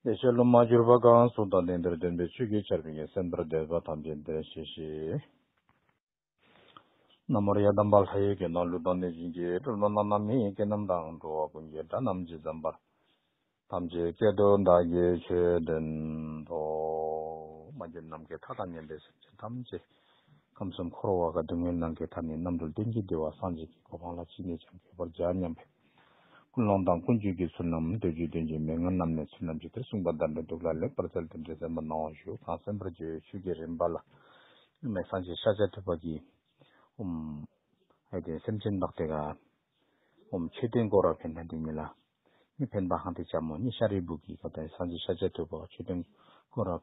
བདེ་གཤེགས་སློབ་མ་གྱུར་པ་གང་གསུང་དང་གདེང་ལྟར་སྟོན་པའི་ཆོས་ཀྱི་ཆར་མིག་གིས་སེམས་ལྟར་འདོད་པ་ཐམས་ཅད་འདིར་ཤེས་ཤིག། ན་མོ་རེ་ཡཱ་དམ་པ་ལྷ་ཡི་གེ་རྣམས་ལུས་དང་གནོད་སྦྱིན་གྱི་སྒྲུབ་རྣམས་རྣམ་སྣང་མི་ཡི་གེ་རྣམས་དང་འགྲོ་བ་ཀུན་གྱི་སྒྲ་རྣམས་ཇི་ཙམ་པར་ཐམས་ཅད་སྐད་དོད་བདག་གིས་ཆོས་སྟོན་ཏོ། མ་རྒྱུད་རྣམས་ཀྱི་མཐའ་དང་ཉམས་པའི་སེམས་ཅན་ཐམས་ཅད་ཁམས་གསུམ་འཁོར་བ་བ་ག་སྡུག་བསྔལ་སྣང་གི་མཐའ་ནས་རྣམ་གྲོལ་བསྟན་གྱི་བདེ་བ་སངས་རྒྱས་ཀྱི་གོ་འཕང་ལ་ཅི་ནས་ཀྱང་འགྱོད་པར་བྱ་སྙམ་པས། ཀུན་སློང་དང་ཀུན་སྤྱོད་ཀྱི་ཚུལ་རྣམས་འདོད་ཆོས་སྟོན་ཅིང་མི་མངོན་རྣམས་ནི་ཚུལ་རྣམ་ཅིག་སྟེ་གསུངས་པ་བདག་འདྲ་འདུག་ལ་ལེགས་པར་བཙལ་ཏེ་འབྲེལ་ཟབ་མོ་སྣང་བར་ཞུ་གང་གསན་པར་བྱའི་ཆོས་ཀྱི་རིམ་པ་ལ། སྙིགས་མའི་སངས་རྒྱས་ཤཱཀྱ་ཐུབ་པ་ཀྱིས། ཧཱུྃ། དེ་སེམས་ཅན་བདག་དེ་ག། མཆོད་རྟེན་བསྐོར་བར་ཕན་པ་འདི་ཉིད་ལ། མི་ཕན་པ་ཧང་སྟེ་བྱ་མོ་གཉིས་ཤཱ་རིའི་བུ་གིས་གདོན་སངས་རྒྱས་ཤཱཀྱ་ཐུབ་པ་མཆོད་རྟེན་བསྐོར་བ།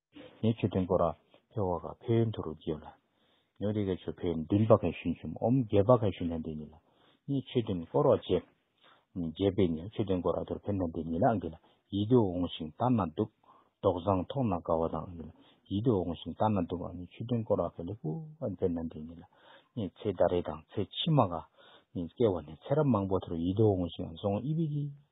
ཉེ་ཆོས་དོན་སྐོར། ཕེ་བྷ་ག་ཕེ་ཡོན་དྷུ་རུ་རྗེ་ལ། ཉོ་རི་ག་ཆོས་ཕེ་ཡོན་དིན་བྷ་གའི་ཞུན་ཆུམ་འོམ་རྒྱལ་བྷ་གའི་ཞུན་ལྷན་དེ་ཉིད་ལ། ཉེ་ཆོས་དོན་སྐོར་རོ་རྗེ། རྗེ་ཕེ་ཉེ་ཆོས་དོན་སྐོར་ར་དོར་ཕེ་ལྷན་དེ་ཉིད་ལ་འགི་ལ། ཡིད་དུ་འོང་ཞིང་ལྟ་ན་སྡུག། མདོག་བཟང་མཐོང་ན་དགའ་བ་དང་འགི་ལ། ཡིད་དུ་འོང་ཞིང་ལྟ་ན་སྡུག། ཉེ་ཆོས་དོན་སྐོར་ར་ཕེ་ལེ་པུ། ཕེ་ལྷན་དེ་ཉིད་ལ། ཉེ་ཚེ་ཟླ་རེ་དང་ཚེ་ཕྱི་མ་ག། ཉེ་ཚེ་བ་ནི་ཚེ་རབས་མང་པོ་དེ་རུ་ཡིད་དུ་འོང་ཞིང་བཟང་དབྱི་བྷི་གི།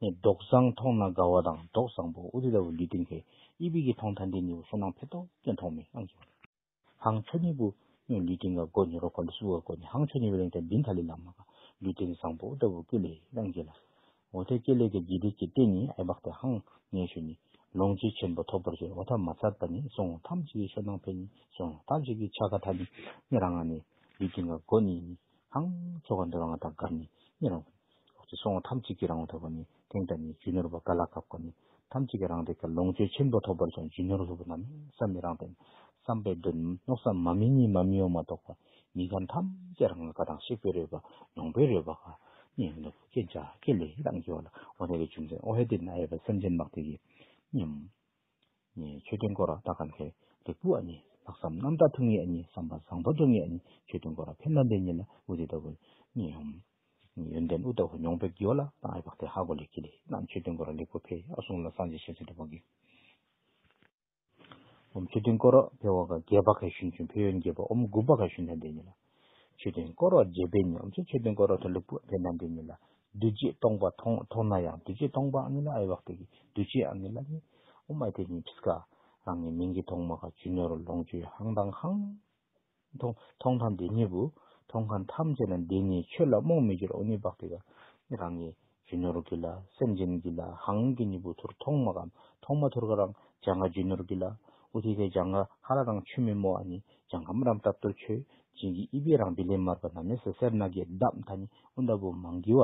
ནས་མདོག་བཟང་མཐོང་ན་དགའ་བ་དང་མདོག་བཟང་པོ་ཨུ་རི་ར་བུ་ལུས་སྟེང་བས་ཨི་བི་གི་མཐོང་ཐ་འདི་ནི་བུ་སོ་ནང་བས་ཏོག་ཙེ་མཐོང་མི་ཨང་གི། ཧང་ཆོ་ནི་བུ་སྨྱོ་ལུས་སྟེང་ག་དགོ་ནི་རོ་གོ་ལི་སུ་ག་དགོ་ནི་ཧང་ཆོ་ནི་བས་རེང་ཐ་བིན་ཐ་ལི་ལ་མ་ག་ལུས་སྟེང་བཟང་པོ་ཨུ་ར་བུ་ཀུ་ལི་ཨང་གི་ལ། འོ་ཐའི་ཀེ་ལེ་ཀེ་ཇི་ཏི་ཅི་ཏི་ནི་ཨའི་བག་ཏེ་ཧང་ངའི་ཤུ་ནི་ལོང་ཅི་ཆེན་པོ་ཐོབ་པར་བྱེད་འོ་ཐ་མ་ཚར་པ་ནི་སོང་ངོ་ཐམས་ཅད་ཀྱི་ཤོ་ནང་བས་ནི་སོང་ངོ་ཐམས་ཅད་ཀྱི་ཆ་ག་ཐ་ནི་ནི་ར་ང་ནི་ལུས་སྟེང་ག་དགོ་ནི་ནི་ཧང་ཆོ་ག་འདི་ར་ང་ཐ་ག་ནི་ནི་ར་བུ། འོག་ཏུ་སོང་བ་ཐམས་ཅད་ཀྱིས་རང་ལ་ཐོབ་པ་ནི་དེང་དང་ནི་རྒྱུ་ནོར་བ་ག་ལ་གབ་ཀ་ནི་ཐམས་ཅད་ཀྱིས་རང་དེ་ཀ་ལོངས་སྤྱོད་ཆེན་པོ་ཐོབ་པར་བྱ་རྒྱུ་ནོར་ལྷུག་པོ་རྣམས་བསམ་མི་རང་དོན་བསམ་པའི་དོན་མནོག་བསམ་མ་མི་གཉིས་མ་མི་ཡོངས་མ་གཏོགས་པ་མི་གང་ཐམས་ཅད་རང་ལ་ཀ་དང་གཤེགས་པའི་རོལ་པ་མྱོང་པའི་རོལ་པ་ག་ནི་ནོར་བུ་ཀྱེ་འཇའ་ཀྱེ་ལེ་ཡི་དང་གི་བ་ལ་འོ་ན་བའི་བྱུང་ཚན་ཨོ་ཧེ་དེ་ན་ཨེ་བ་སེམས་ཅན་མག་ཏིག་གི་སྙེམས། ནས་ཆོས་སྟོན་སྐོར་བདག་གམ་ཕེབས་ལེགས་བུ་ཨ་ནི་ལྷག་བསམ་རྣམ་དག་ཐུགས་ངེས་ཨ་ནི་བསམ་པ་བཟང་པོ་འགྲོ་ངེས་ཨ་ནི་ཆོས་སྟོན་སྐོར་བ་ཕེབས་ནམ་པའི་ཉིན་ལ་དབུ་དེ་ལྟ་བུ་རྙེད་ཡོང། ཡོན་ཏན་ཨུཏྤ་ཧོ་མྱོང་ཕེབས་ཀྱིའོ་ལ་དང་ཨེ་བག་ཏེ་ཧ་གོ་ལེ་ཁི་ལེ་རྣམས་ཆོས་སྟོན་སྐོར་བ་ལེགས་བུ་ཕེབས་ཨ་སོང་ལ་སངས་རྒྱས་ཞལ་གསོལ་འདྲ་པོ་དགོས། འོམ་ཆོས་སྟོན་སྐོར་བ་ཕེབས་བག་ག་རྒྱལ་བག་ག་ཞུན་ཆུན་ཕེབས་ཡོན་རྒྱལ་བ་འོམ་དགུ་བག་ག་ཞུན་ཐ་འདས་ཉིན་ལ་མཆོད་རྟེན་བསྐོར་བ་རྒྱས་པས་ནི་འོ་མཚོའི་མཆོད་རྟེན་བསྐོར་བ་དང་ལུག་བུ་བས་ན་འདི་ཉིད་ལ་བདུད་རྗེས་སྟོང་པ་མཐོང་ན་ཡང་བདུད་རྗེས་སྟོང་པ་ཨ་ནི་ལ་ཨེ་ཝྃ་ཏེ་བདུད་རྗེ་ཨ་ནི་ལ་ནི་ཨུ་མ་ཏེ་ནི་བྷིས་ཀ་རང་གི་མིང་གི་ཐོག་མ་ཁ་ཆུ་ནོར་ལོངས་སྤྱོད་ཧང་དང་ཧང། མཐོང་ཐང་འདི་ཉིད་བུ་མཐོང་ཁང་ཐམས་ཅད་ན་འདི་ནི་ཆོས་ལ་རྨོངས་མི་འགྱུར་ཨོ་ནི་བྷག་ཏེ་ཀ་ནི་རང་གི་རྒྱུ་ནོར་གྱི་ལ་སེམས་ཅན་གྱི་ལ་ཧང་གི་གཉིས་པོ་ཐུར་ཐོང་མ་གམ་ཐོང་མ་ཐུར་ག་རང་བྱང་ང་རྒྱུ་ནོར་གྱི་ལ་ཨུ་ཐི་ཀའི་བྱང་ང་ཧ་ར་རང་ཆུ་མི་མོ་ཨ་ནི་བྱང་ཁམ་རམ་ཏབ་ཏོ་མཆོད་སྦྱིན་གྱི་དབྱི་པའི་རང་བི་ལེ་མར་པ་ན་མེ་སེ་སེར་ནག་གི་ལྡབ་མཐའ་ནི་ཨུ་མདའ་བུ་མང་གི་བ་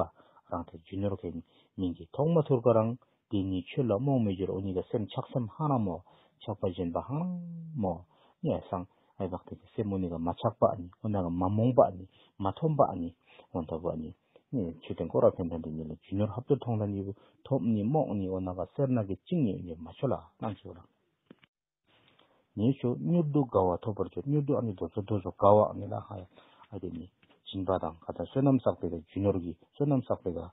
རང་དེ་རྒྱུ་ནོར་གའི་མིང་གི་ཐོང་མ་ཐུར་ག་རང་དེ་ནི་ཆོས་ལ་རྨོངས་མི་འགྱུར་ཨོ་ནི་ག་སེམས་ཆགས་སེམས་ཧང་རང་མོ་ཆགས་པ་སྦྱིན་པ་ཧང་རང་མོ་ནི་ཨ་སང་ཨའི་བག་ཐེག་གི་སེམས་ཨོ་ནི་ག་མ་ཆགས་པ་ཨ་ནི་ཨོ་ན་ག་མ་རྨོངས་པ་ཨ་ནི་མ་འཐོམས་པ་ཨ་ནི་ཨོ་མདའ་བུ་ཨ་ནི། ཆོས་ལྡན་ཀོ་ར་བྷན་དྷ་འདི་ཉིད་ལ་རྒྱུ་ནོར་ཧབ་ཏུ་མཐོང་ལ་གཉིས་པོ་ཐོབ་ནི་རྨོག་གཉིས་འོ་ན་བ་སེར་ནག་གི་གཅིག་ཉིད་ཉེར་མ་མཆོད་ལ་སྣང་མཆོད་ལ། ཉེར་ཞོ་མྱུར་དུ་དགའ་བ་ཐོབ་པར་འགྱུར་མྱུར་དུ་ཨ་ནི་དོ་ཚོ་དོ་ཚོ་དགའ་བ་ཨ་ནི་ལ་ཧ་ཡ་ཨ་དེ་ནི་སྦྱིན་པ་དང་དགའ་དང་བསོད་ནམས་བསགས་པའི་དགའ་རྒྱུ་ནོར་གྱི་བསོད་ནམས་བསགས་པའི་དགའ།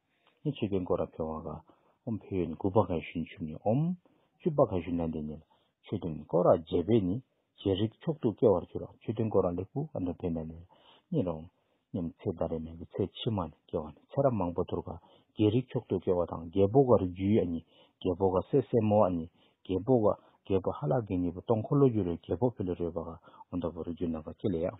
ནི་ཆོས་ཀྱི་འགོ་ར་འཕེལ་བ་ག་འོམ་འཕེལ་ཡོད་ནི་དགུ་པ་ག་ཞུན་ཆུབ་ནི་འོམ། བཅུ་པ་ག་ཞུན་ལན་འདེབས་ནི་ལ་ཆོས་སྟོན་འགོ་ར་རྗེ་འཕེལ་ནི་རྗེ་རིགས་མཆོག་ཏུ་སྐྱེ་བར་གྱུར་ལ་ཆོས་སྟོན་འགོ་ར་ལེགས་པོ་ག་འདོན་འཕེལ་མེད་ནི་ལ་གཉིས་ར་འོམ། སྙམ་ཚེ་ཟླ་རེ་མན་གྱི་ཚེ་ཕྱི་མ་ནི་སྐྱེ་བ་ནི་ཚེ་རབས་མང་པོ་དུར་ག་རྒྱལ་རིགས་མཆོག་ཏུ་སྐྱེ་བ་དང་རྒྱལ་པོ་ག་རུ་རྒྱུའི་ཨ་ནི་རྒྱལ་པོ་ག་སྲས་སྲས་མོ་ཨ་ནི་རྒྱལ་པོ་ག་རྒྱལ་པོ་ཧ་ལག་གི་གཉིས་པོ་སྟོང་འཁོར་ལོ་རྒྱུ་རུ་རྒྱལ་པོ་འཕེལ་ལོ་རོལ་པ་ག་འོ་འདྲ་པོ་རུ་རྒྱུ་ནམ་པ་ཁྱེད་ལས་ཡང།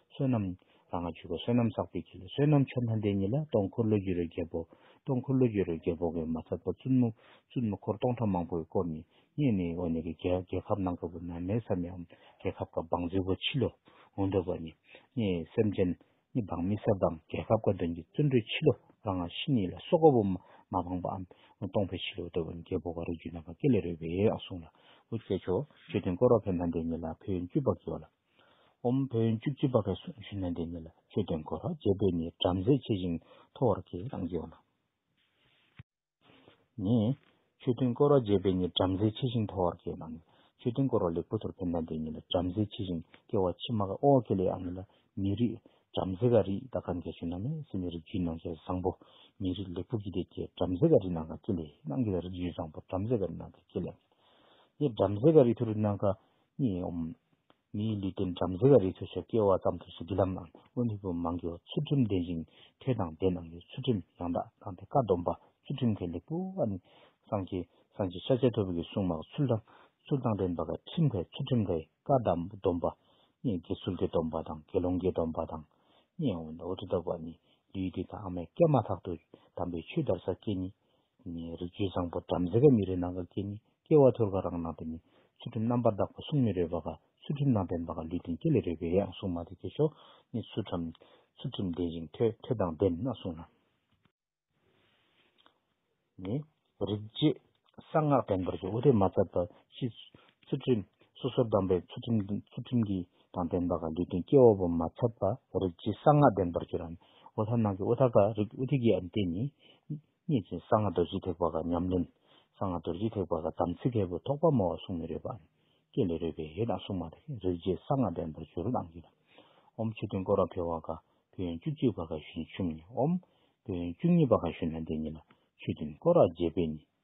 བསོད་ནམས་ར་ང་བཅུ་པ་བསོད་ནམས་བསགས་པའི་ཁྱི་ལ་བསོད་ནམས་ཆོ་ལྷ་འདས་ཉིད་ལ་སྟོང་འཁོར་ལོ་རྒྱུས་རོལ་རྒྱལ་པོ་སྟོང་འཁོར་ལོ་རྒྱུས་རོལ་རྒྱལ་པོ་གི་མ་ཚབ་པ་བཙུན་མོ་བཙུན་མོ་འཁོར་སྟོང་ཕྲག་མང་པོ་ཡི་སྐོར་ནི་སྙན་ནི་འོ་ནི་གི་རྒྱལ་ཁབ་ནང་གི་བུ་ན་མའི་ས་མིའམ་རྒྱལ་ཁབ་ཀ་འབངས་རྫི་བོ་ཕྱི་ལོ་ངོ་འདོད་པ་ནི་སྙན་ཡི་སེམས་ཅན་ནི་འབངས་མི་ས་དང་རྒྱལ་ཁབ་ཀ་དོན་གྱི་བརྩོན་འགྲུས་ཕྱི་ལོ་ར་ང་ཤི་ཉིད་ལ་སོ་ཀ་བོ་མ་འབངས་པའམ་སྟོང་པའི་ཕྱི་ལོ་འདོད་པ་ནི་རྒྱལ་པོ་ག་རུ་རྒྱུད་ནང་པ་སྐེ་ལས་རོལ་པའི་ཨ་གསུང་ལ་འོ་སྐྱེས་མཆོག་མཆོད་རྟེན་བསྐོར་བ་བྷན་དྷ་འདས་ཉིད་ལ་ཕོ་ཡོན་བཅུ་པ་བགྱི་བ་ལ། ཨོ་མོ་བོན་བཅུ་གཅིག་པ་བས་སུ་ཞུ་ན་འདི་ཉིད་ལ་ཆོས་སྟོན་དགོས་རོགས་རྗེ་བོད་ནི་བྲམ་ཟེ་ཆེ་ཞིང་མཐོ་བར་གྱིས་རང་བགྱིའོ་ལ། ནས། ཆོས་སྟོན་དགོས་རོགས་རྗེ་བོད་ནི་བྲམ་ཟེ་ཆེ་ཞིང་མཐོ་བར་གྱིས་རང་བགྱིའོ་ཆོས་སྟོན་དགོས་རོགས་ལེགས་པོ་དོར་ཕེབས་ན་འདི་ཉིད་ལ་བྲམ་ཟེ་ཆེ་ཞིང་སྐལ་བ་ཕྱི་མ་ག་ཨོ་ཀེ་ལའི་ཨ་མི་ལ་མི་རིགས་བྲམ་ཟེ་ག་རིགས་ད་ག་མཁས་ཞུ་ན་མེ་སི་ནི་རིགས་རྒྱུད་ནང་ཁྱད་བཟང་པོ་མི་རིགས་ལེགས་པོ་བགྱིད་དེ་ཀྱེ་བྲམ་ཟེ་ག་རིགས་ནང་ག་ཀེ་ལའི་ནང་གི་རིགས་རྒྱུད་བཟང་པོ་བྲམ་ཟེ་ག་རིགས་ནང་ག་ཀེ་ལའི་ཨ་མི་ལ། ནས་བྲམ་ཟེ་ག་རིགས་ཐུ་རུ་ནང་ག་གཉིས་འོང། མིའི་ལུས་སྟེང་བྲམ་ཟེ་བ་རི་ཚོ་ཆོད་སྐྱེ་བ་ཙམ་དུ་སུ་གི་ལམ་ནང་དབོན་མི་བུ་མང་གིོ་ཚུལ་ཁྲིམས་ལྡན་ཞིང་ཐོས་དང་ལྡན་ནང་གི་ཚུལ་ཁྲིམས་ཡང་དག་བསྐངས་ཏེ་བཀའ་སྡོམ་པ་ཚུལ་ཁྲིམས་མཁན་ལེགས་པོ་བ་ནི་སངས་རྒྱས་སངས་རྒྱས་ཤཱཀྱ་ཐུབ་ཀྱི་གསུང་མང་ཚུལ་དང་ཚུལ་དང་ལྡན་པ་བཀའ་ཁྲིམས་ལྷའི་ཚུལ་ཁྲིམས་ལྷའི་བཀའ་སྡོམ་པ་གཉིས་དགེ་ཚུལ་གྱི་སྡོམ་པ་དང་དགེ་སློང་གི་སྡོམ་པ་དང་གཉིས་འོང་འོ་དེ་ལྟ་བུ་བ་ནི་ལུས་འདི་དང་མའི་སྐད་མ་ཐག་ཏུ་དམ་པའི་ཆོས་དར་ས་སྐྱེས་ཉིད་ནི། རིགས་རྒྱུད་བཟང་པོ་བྲམ་ཟེ་ག་མི་རེ་ནང་ག་སྐྱེས་ནི་སྐྱེ་བ་ཐོལ་ག་རང་སྣང་དེ་ནི། ཚུལ་ཁྲིམས་རྣམ་པར་དག་པ་གསུང་མི་རོལ་པ་ག་ཚུལ་ཁྲིམས་རྣམ་ཕན་པ་ག་ལུས་གཏན་སྐྱེས་ལས་རོལ་པའི་ཡང་གསུང་མ་དེ་སྐྱེ་ཞོ་ནི་ཚུལ་ཁྲིམས་ལྡན་ཞིང་ཐོས་ཐོས་དང་ལྡན་ན་གསུང་ལ། ནི། རིགས་རྒྱུད་གསང་སྔགས་བསྟན་པར་བྱོས་འོ་དེ་མ་ཚར་པ་ཕྱིས། ཚུལ་ཁྲིམས་སོ་སོར་བསྡམས་པའི་ཚུལ་ཁྲིམས་ཀྱིས། དང་ལྡན་པ་གང་འདོད་དོན་སྐྱེ་བ་པོ་མ་ཚབ་པ་རིག་བྱེད་གསང་སྔགས་ལྡན་པར་གྱུར། འོ་ཐ་ནང་གི་འོ་ཐ་ཀ་རིག་ཨུ་ཐི་ཀའི་ཨ་འདི་ནི། རྙེད་ཅིང་གསང་སྔགས་རྡོ་རྗེ་ཐེག་པ་ཀ་ཉམས་ལེན། གསང་སྔགས་རྡོ་རྗེ་ཐེག་པ་ཀ་དམ་ཚིག་ཁལ་བུ་ཐོགས་པ་མོ་བ་གསུང་མི་རོལ་པ། སྐད་ལས་རོལ་པའི་ཡེ་དང་གསུང་མ་ཐག་རིག་བྱེད་གསང་སྔགས་ལྡན་པར་གྱུར་ལམ་གྱི། ཨོམ་མཆོད་རྟེན་བསྐོར་བ་འཕེལ་བ་ཀ་བོད་ཡོན་བཅུ་གཅིག་པ་ཀ་བཞིན་བྱུང། ཨོམ། བོད་ཡོན་བཅུ་གཉིས་པ་ཀ་བཞུ་ན་འདི་ཉིད་ལ་མཆོད་རྟེན་བསྐོར་བ་རྒྱས་པས་ནི་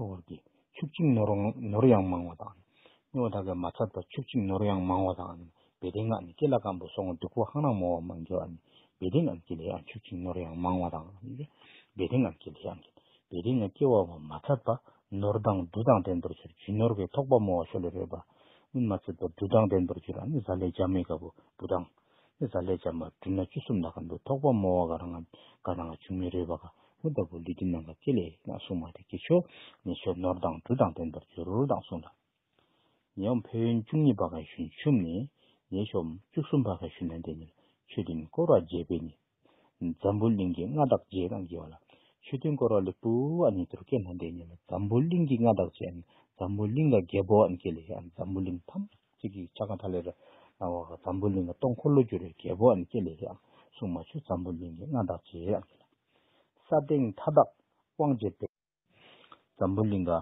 ཐུགས་ཀར་གྱི་ཕྱུགས་གཅིག་ནོར་ཡང་མང་བ་དང། སྨྱོ་བ་དག་གི་མ་ཚབ་དང་ཕྱུགས་གཅིག་ནོར་ཡང་མང་བ་དང། བེ་ཏའི་སྔགས་ནི་ཀེ་ལ་སྐམ་པོ་སོགས་འབྲུག་པོ་ཧང་རང་མོ་བ་མང་གི། བེ་ཏའི་སྔགས་ཀྱི་ལས་ཡང་ཕྱུགས་གཅིག་ནོར་ཡང་མང་བ་དང། བེ་ཏའི་སྔགས་ཀྱི་ལས་ཡང་གི། བེ་ཏའི་སྔགས་སྐྱེ་བ་བ་མ་ཚབ་པ། ནོར་དང་འབྲུ་དང་ལྡན་པར་གྱུར་ཇི་ནོར་བའི་ཐོགས་པ་མོ་བ་ཤོ་ལེ་རོལ་པ། སྨིན་མ་ཚིག་པ་འབྲུ་དང་ལྡན་པར་གྱུར་ཨ་ནི་ཟ་ལེ་རྒྱ་མི་དགའ་བོ་བུ་དང། ནི་ཟ་ལས་འཇམ་པ་སྦྲུལ་ནག་བཅུ་གསུམ་ལ་གམ་དུ་ཐོགས་པ་རྨོ་བ་ག་རང་ངམ་ག་རང་ལ་བྱུང་མི་རུས་པ་ག་མུ་ལྟ་བུ་ལུས་སྡུད་ནམ་པ་ཅི་ལས་ན་སྲུང་མ་དེ་ཀྱི་ཆོས་ནི་ཆོས་ནོར་དང་འབྲུ་དང་ལྡན་པར་འགྱུར་དང་གསུངས་ལ། ཉེས་དབང་ཕན་ཡོན་བཅུ་གཉིས་པ་ག་ཞུན་ཆུམས་ནི་ཉེས་གཤོམ་བཅུ་གསུམ་པ་ག་ཞུན་ན་འདས་ནས་ཆོས་མཐུན་བསྐོར་བ་རྒྱས་པས་ནི། འཛམ་བུ་གླིང་གི་མངའ་བདག་རྗེ་དང་རྒྱལ་བ་ལ་ཆོས་མཐུན་བསྐོར་བ་ལས་སྤུལ་བ་ནི་དུར་སྐྱེས་ན་འདས་ནས་ལ་འཛམ་བུ་གླིང་གི་མངའ་བདག་རྗེ་འམ་འཛམ་བུ་གླིང་ལ་རྒྱལ་པོ་འམ་སྐྱེས་ལས་འམ་འཛམ་བུ་གླིང་ཐམས། ཚིག་གིས་ཆ་གང་ཐ་ལེ་ར། སྣང་བ་འཛམ་བུ་གླིང་ལ་སྟོང་འཁོར་ལོ་སྒྱུར་བའི་རྒྱལ་པོ་འམ་སྐྱེ་ལེ་རེའང་གསུངས་མ་ཆུ་འཛམ་བུ་གླིང་གི་མངའ་བདག་ཅེས་འམ་བྱ། ས་སྟེང་མཐའ་དག་དབང་བྱེད་པའི། འཛམ་བུ་གླིང་ག།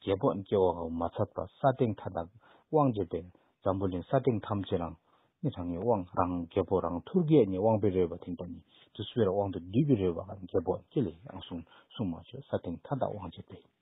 རྒྱལ་པོ་འམ་སྐྱེ་བ་འམ་མ་ཚད་པ་ས་སྟེང་མཐའ་དག་དབང་བྱེད་པའི། འཛམ་བུ་གླིང་ས་སྟེང་ཐམས་ཅད་རང། མི་གྲངས་ངེས་དབང་རང་རྒྱལ་པོ་རང་ཐུར་གས་ངེས་དབང་པའི་རོལ་བ་དེང་པ་ནི་དུས་སུ་བེ་ར་དབང་དུ་སྡུད་པའི་རོལ་བ་འམ་རྒྱལ་པོ་འམ་སྐྱེ་ལེ་རེའང་གསུངས་མ་ཆུ་ས་སྟེང་མཐའ་དག་དབང་བྱེད་པའི།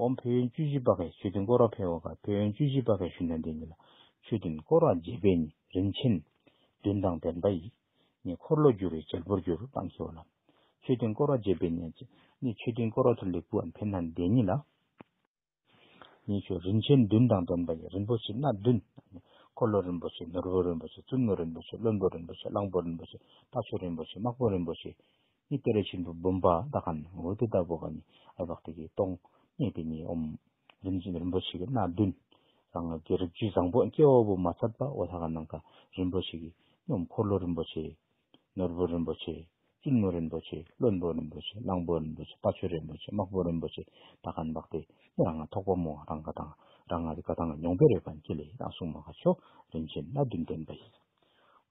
འོང་བོད་ཡོན་བཅུ་བཞི་པ་ཁའི་མཆོད་རྟེན་སྐོར་བ་ཕལ་བ་ཁ་བོད་ཡོན་བཅུ་བཞི་པ་ཁའི་ཞུ་ན་འདི་ཉིད་ལ་མཆོད་རྟེན་སྐོར་བ་རྗེ་དཔལ་ནི་རིན་ཆེན་བདུན་དང་ལྡན་པ་ཡིས་ནི་འཁོར་ལོ་བསྒྱུར་བའི་བྱེད་པོར་གྱུར་སྟངས་ཤེས་བ་ལ། མཆོད་རྟེན་སྐོར་བ་རྗེ་དཔལ་ནི་ནི་མཆོད་རྟེན་སྐོར་བ་ཚུར་ལེགས་བུ་འམ་ཕན་ན་འདི་ཉིད་ལ། ནི་མཆོད་རིན་ཆེན་བདུན་དང་ལྡན་པ་ཡི་རིན་པོ་ཆེ་སྣ་བདུན། འཁོར་ལོ་རིན་པོ་ཆེ་ནོར་བུ་རིན་པོ་ཆེ་བཙུན་མོ་རིན་པོ་ཆེ་བློན་པོ་རིན་པོ་ཆེ་གླང་པོ་རིན་པོ་ཆེ་ལྟག་མཆོད་རིན་པོ་ཆེ་དམག་དཔོན་རིན་པོ་ཆེ། ནི་ཏེ་ར་ཆེན་པོའི་བུམ་པ་དག་གམ་འོད་དུ་ལྟ་བུ་ག་ནི་ཨེ་བག་ཏུ་ཀའི་སྟོང་ཉིད་དེ་ཉིད་འོང། རིན་ཆེན་རིན་པོ་ཆེ་གི་སྣ་བདུན། རང་ངོས་ཀྱི་རིགས་རྒྱུད་བཟང་པོ་སྐྱེ་བོ་བུ་མ་ཚད་པ་འོ་ལྷ་ག་ནང་ག་རིན་པོ་ཆེ་གི་སྙོམས་འཁོར་ལོ་རིན་པོ་ཆེ། ནོར་བུ་རིན་པོ་ཆེ། བཙུན་མོ་རིན་པོ་ཆེ་བློན་པོ་རིན་པོ་ཆེ་གླང་པོ་རིན་པོ་ཆེ་དཔའ་ཆོས་རིན་པོ་ཆེ་དམག་པོ་རིན་པོ་ཆེ་དག་ག་ནི་བག་སྟེ་ནི་རང་ངོས་ཐོག་པ་མོ་རང་ག་དང་རང་ངོས་ཀྱི་ག་དང་མྱོང་པའི་རོལ་པ་མཁྱེན་ལས་ཡི་དྭགས་སྲུང་མ་ག་མཆོག་རིན་ཆེན་སྣ་བདུན་བསྟན་པ་ཡིན།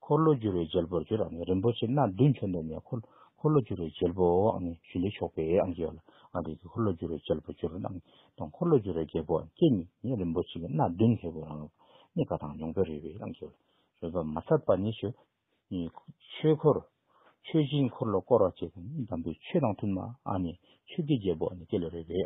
འཁོར་ལོ་སྒྱུར་བའི་རྒྱལ་པོར་གྱུར་བ་ནི་རིན་པོ་ཆེ་སྣ་བདུན་ཁྱོན་འདོན་ནས་འཁོར་ལོ་སྒྱུར་བའི་རྒྱལ་པོའང་ནི་ཞུན་ལས་ཆོག་པའི་ཨང་ཀི་ཨོ་ལ་ཨང་ཀི་ཀྱི་འཁོར་ལོ་སྒྱུར་བའི་རྒྱལ་པོར་གྱུར། དང་འཁོར་ལོ་སྒྱུར་བའི་རྒྱལ་པོ་ཨང་ཀི་ནི་ནི་རིན་པོ་ཆེ་སྣ་བདུན་ལྷའི་བུ་རང་ནི་ག་དང་མྱོང་པོའི་རོལ་པའི་ཨང་ཀི་ཨོ་ལ་རོལ་པ་མ་ཚར་པ་ནི་ཆོས་ཆོས་འཁོར་མཆོད་སྦྱིན་འཁོར་ལོ་བསྐོར་བ་བཅས་དང་ནི་འདམ་བུའི་ཆོས་དང་མཐུན་པ་ཨང་ནི་ཆོས་ཀྱི་རྒྱལ་པོ་ཨང་ནི་ཀི་ལས་རོལ་པའི།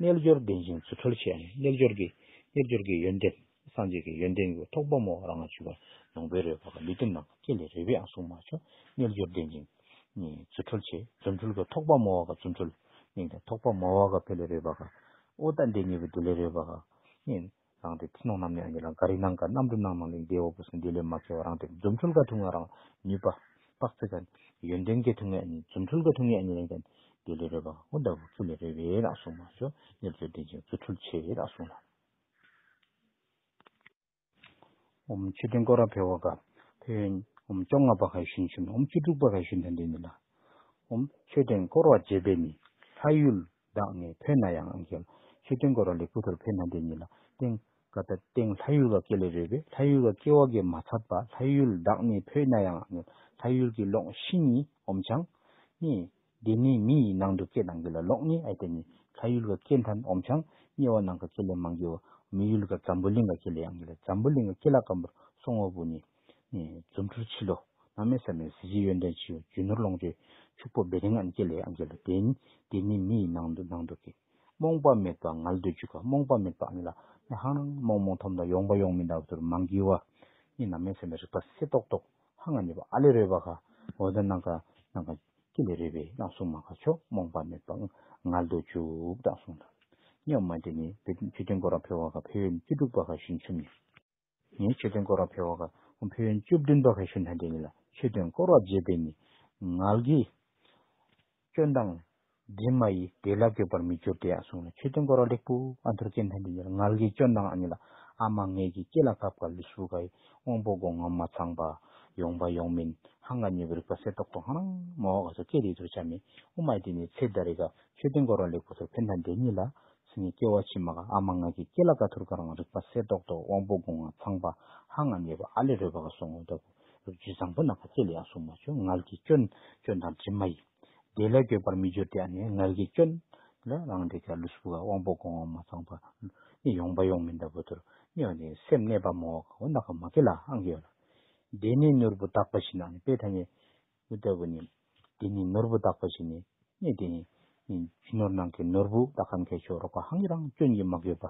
རྣལ་འབྱོར་ལྡན་ཅིང་རྫུ་འཕྲུལ་ཆེ་ཡང་རྣལ་འབྱོར་གྱི། རྣལ་འབྱོར་གྱི་ཡོན་ཏན། སངས་རྒྱས་ཀྱི་ཡོན་ཏན་གྱི་ཐོག་འབབ་མོ་ར་ང་བྱུ་བ། ནང་པའི་རོལ་པ་ལུས་སྟེང་ནང་གི་སྐྱེ་ལས་རོལ་པའི་ཨ་སུག་མ་བྱོ། རྣལ་འབྱོར་ལྡན་ཅིང། རྫུ་འཕྲུལ་ཆེ། རྫུ་འཕྲུལ་གྱི་ཐོག་འབབ་མོ་བ་ག་རྫུ་འཕྲུལ། མིང་དང་ཐོག་འབབ་མོ་བ་ག་བྷེ་ལས་རོལ་པ་ག། ཨོ་ཏ་འདས་ཉེ་བའི་དུ་ལས་རོལ་པ་ག། རང་དེ་ཐུན་མོང་རྣམས་ནི་ཨ་ཉེ་ལ་འགའ་རིག་ན་འགའ་རྣམ་གྲོལ་སྣང་མང་ལས་འདས་འོག་པོ་སེང་གེ་ལས་མ་འཁེལ་བ་རང་དེ་རྫུ་འཕྲུལ་དགའ་ཐུང་ང་རང་ནུས་པ། དཔག་ཚད་དགའ། ཡོན་ཏན་དགའ་ཐུང་ང་ཨ་ཉེ་རྫུ་འཕྲུལ་དགའ་ཐུང་ངས་ཨ་ཉེ་ལས་འདས་འདས་ལས་རོལ་པ་ཨོ་ད་བུ་ཁྱུ་ལས་རོལ་བས་ལགས་གསུངས་མ་ཞོ་ནེར་མཛོད་བདེན་ཅིང་རྫུ་འཕྲུལ་ཆེ་ལགས་གསུངས་ལ། འོ་མ་ཆུ་འདོན་སྐོར་ར་འཕེལ་བ་དགའ། འཕེལ་ཡོན། འོ་མ་བཅོ་ལྔ་པ་ག་ཡི་ཤུན་ཤུན་འོ་མ་བཅུ་དྲུག་པ་ག་ཡི་ཤུན་དོན་དོན་ནི་ལ། འོ་མ་ཆོས་འདོན་སྐོར་བ་བརྒྱད་པས་ནི་ལྷ་ཡུལ། བདག་ནི་བོད་ན་ཡང་ཨང་ཀྱི། ཆོས་སྟོན་དགོས་ར་ལི་སྐུ་དོར་བོད་ན་འདི་ཉིད་ལ། སྟེང། ཀ་ད་སྟེང་ལྷ་ཡུལ་བ་སྐད་ལས་རོལ་པའི་ལྷ་ཡུལ་བ་སྐད་འོག་གི་མ་ཚབ་པ་ལྷ་ཡུལ་བདག་ནི་བོད་ན་ཡང་ཨང་ཀྱི། ལྷ་ཡུལ་གྱི་ལོགས་བཞི་ནི་ཨོམ་བྱང། གཉིས། འདི་ནི་མི་ཡི་ནང་དུ་སྐད་ཨང་ཀྱི་ལ་ལོགས་ནི་ཨའི་ཏེ་ནི། ལྷ་ཡུལ་བ་སྐད་མཐའ་ནི་ཨོམ་བྱང། དམྱལ་བ་ནང་ག་སྐད་ལས་མང་གི་འོ། མི་ཡུལ་ག་ཛམ་བུ་གླིང་ག་སྐད་ལས་ཨང་ཀྱི་ལ་ཛམ་བུ་གླིང་ག་སྐད་ལ་སྐམ་པོར་སོང་ངོ་བུ་ནི། རྫུ་འཕྲུལ་ཆེ་ལོ། ནགས་མེད་ས་མེད་གཟི་བརྗིད་ཡོན་ཏན་ཆེ། རྒྱུ་ནོར་ལོངས་སྤྱོད་ཕྱུག་པོ་སྦེད། ངན་སྐྱེས་ལས་ཨང་གི་ལོ་དེ་ནི་དེ་ནི་མི་ཡི་ནང་དུ་ནང་དུ་གི། རྨོངས་པ་མེད་པ་ངལ་འདོད་འཇུག་ག་རྨོངས་པ་མེད་པ་ཨང་གི་ལ། ནི་ཧང་རང་རྨོངས་རྨོངས་འཐོམ་དང་ཡོང་པ་ཡོང་མི་འདའ་བ་དུར་མང་གི་བ། ནི་ནགས་མེད་ས་མེད་རིག་པ་སེ་ཏོག་ཏོག་ཧང་ང་ཉེས་པ་ཨ་ལས་རོལ་བ་ག། འོ་ད་ནགས་ག་ནགས་ག་སྐྱེས་ལས་རོལ་བའི་ནགས་སྲུང་མ་ག་ཆོག་རྨོངས་པ་མེད་པ་ངལ་འདོད་འཇུག་དང་གསུངས་ལ། སྨྱོ་མ་དེ་ནི་བུ་བཅུ་བདུན་སྐོར་ར་འཕེལ་བ་ག་འཕེལ་བས་ནི་བཅུ་དྲུག་པ་ག་ཞུན་ཆུམ་ནི། ངས་ཆོས་སྟོན་སྐོར་བ་ཕེ་བྷ་ག་ཧུན་ཕེ་ཡོན་བཅུ་བདུན་པ་གྷ་ཤུན་ཐན་ཏེ་གཉིས་ལ་ཆོས་སྟོན་སྐོར་བ་བརྒྱད་པའི་མི་ངལ་གྱིས། སྐྱོན་དང། དྲི་མ་ཡིས་དེ་ལ་བསྐྱོད་པར་མི་འགྱུར་ཏེ་ཡང་གསུངས་ལ་ཆོས་སྟོན་སྐོར་བ་ལེགས་པོ་ཨ་ཐུར་ཀན་ཐན་ཏེ་གཉིས་ལ་ངལ་གྱིས་སྐྱོན་དང་ཨ་གཉིས་ལ་ཨ་མ་ངེད་ཀྱི་སྐེ་ལ་བབས་ཀ་ལི་སུ་ག་ཡི་དབང་པོ་སྒོ་ང་མ་ཚང་པ། ཡོང་པ་ཡོང་མིན་ཧང་ག་ཉེ་བའི་རིག་པ་གསེར་ཏོག་ཏོག་ཧང་རང་མོ་ཨོ་ག་སོ་སྐད་རིགས་དུར་བྱ་མེ་དབུ་མ་ཡི་དེ་ནས་ཚེ་བདའ་རེ་ག་ཆོས་སྟོན་སྐོར་བ་ལེགས་པོ་ཐུར་ཕེ་ཐན་ཏེ་གཉིས་ལ་ཚེ་ནི་སྐྱེ་བ་ཕྱི་མ་ག་ཨ་མ་ང་ཀི་སྐྱེ་ལ་ཀ་ཐུར་ཀ་རང་རིག་པ་སེ་ཏོག་ཏོག་དབང་པོ་དགུ་ང་ཚངས་པ་ཧ་ང་མེད་པ་ཨ་ལས་རོལ་པ་ཀ་སོང་ངོ་ལྟ་བུ་རུ་རྒྱུད་བཟང་པོ་ན་ཀ་ཚེ་ལས་ཡང་གཟུགས་མ་བྱུང་མངལ་གྱི་སྐྱོན་སྐྱོན་དང་དྲི་མ་ཡི། བདེ་ལས་འགྱོད་པར་མི་འགྱུར་ཏེ་ཨ་ནི་མངལ་གྱི་སྐྱོན། ལ་རང་རིག་ཀ་ལུས་སྦུ་ཀ་དབང་པོ་དགུ་ང་མ་ཚངས་པ་ཀླུ་ནི་ཡོང་པ་ཡོང་མིན་ལྟ་བུ་དུར་སྨྱོ་བ་ནི་སེམས་གནས་པ་མོ་ཀ་འོ་ན་ཀ་མ་ཀི་ལ་ཨང་ཀི་ཡོད་ལ། བདེ་ནི་ནོར་བུ་དག་པ་བཞིན་ཨ་ནི་དཔེ་ད་ནི། འདི་ལྟ་བུ་ནི། འདི་ནི་ནོར་བུ་དག་པ་ཞིག་ནི་གནས་དེ་ནི། རྒྱུ་ནོར་ནང་གི་ནོར་བུ་དག་གམ་མཁས་མཆོག་རོག་པ་ཧང་གི་རང་སྐྱོན་གྱིས་མ་གོས་པ།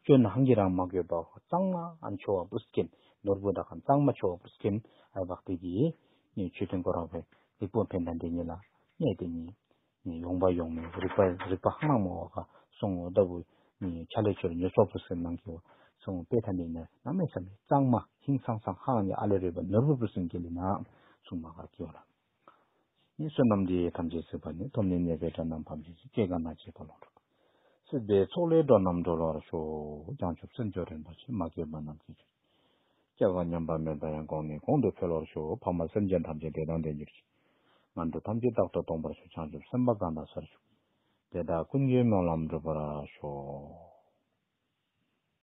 སྐྱོན་ཧང་གི་རང་མ་གོས་པའོ་གཙང་མ་མཆོག་བ་པུསྐ་ཀེམ་ནོར་བུ་དག་གམ་གཙང་མ་མཆོག་བ་པུསྐ་ཀེམ་ཨེ་བྷག་ཏི་གིས། ཆོས་དོན་གོ་རོག་པའི་རིག་པོ་འཕེན་དང་འདི་ཉིད་ལ་གནས་དེ་ནི། ཡོང་པ་ཡོང་མིན་རིག་པ་རིག་པ་ཧང་རང་མོ་བ་ཁ་སོང་ངོ་ལྟ་བུ། ཆ་ལས་ཆོས་ལ་ཉོས་སོག་པོ་ཟེར་ནང་གི་བ་སོང་དཔེ་ཐ་མི་ནར་ནག་མེད་ས་མེད་གཙང་མ་ཧིང་སང་སང་ཧ་རང་གི་ཨ་ལས་རོལ་བ་ནོར་བུ་བུ་སེང་གེ་ལས་ནག་སུང་མ་གར་སྐྱོ་ལ། ནི་བསོད་ནམས་འདི་ཐམས་ཅད་ཟེར་བ་ནི་སྟོབས་ནི་གནས་པའི་དགྲ་རྣམས་ཕམ་ཅིག་ཅིག་སྐད་གང་ན་བྱེད་པ་ལོངས་སྤྲོ། སྲིད་པའི་ཚོགས་ལས་འགྲོ་རྣམས་སྒྲོལ་བར་ཤོག་བྱང་ཆུབ་སེམས་མཆོག་རིན་པོ་ཆེ་མ་སྐྱེས་པ་རྣམས་སྐྱེ་བར་ཤོག། སྐྱེ་བ་མཉམ་པར་མེད་པ་ཡང་གོང་ནས་གོང་དུ་འཕེལ་བར་ཞུ་འོ་འཕགས་མ་སེམས་ཅན་ཐམས་ཅད་དེ་དང་དེ་འགྱུར་ཅིག། ངང་དུ་ཐམས་ཅད་རྟག་ཏུ་སྟོང་པར་ཞུ་བྱང་ཆུབ་སེམས་དཔའ་གང་དག་སར་ཞུགས། དེ་དག་ཀུན་གྱི་སྨོན་ལམ་འགྲུབ་པར་ཤོག།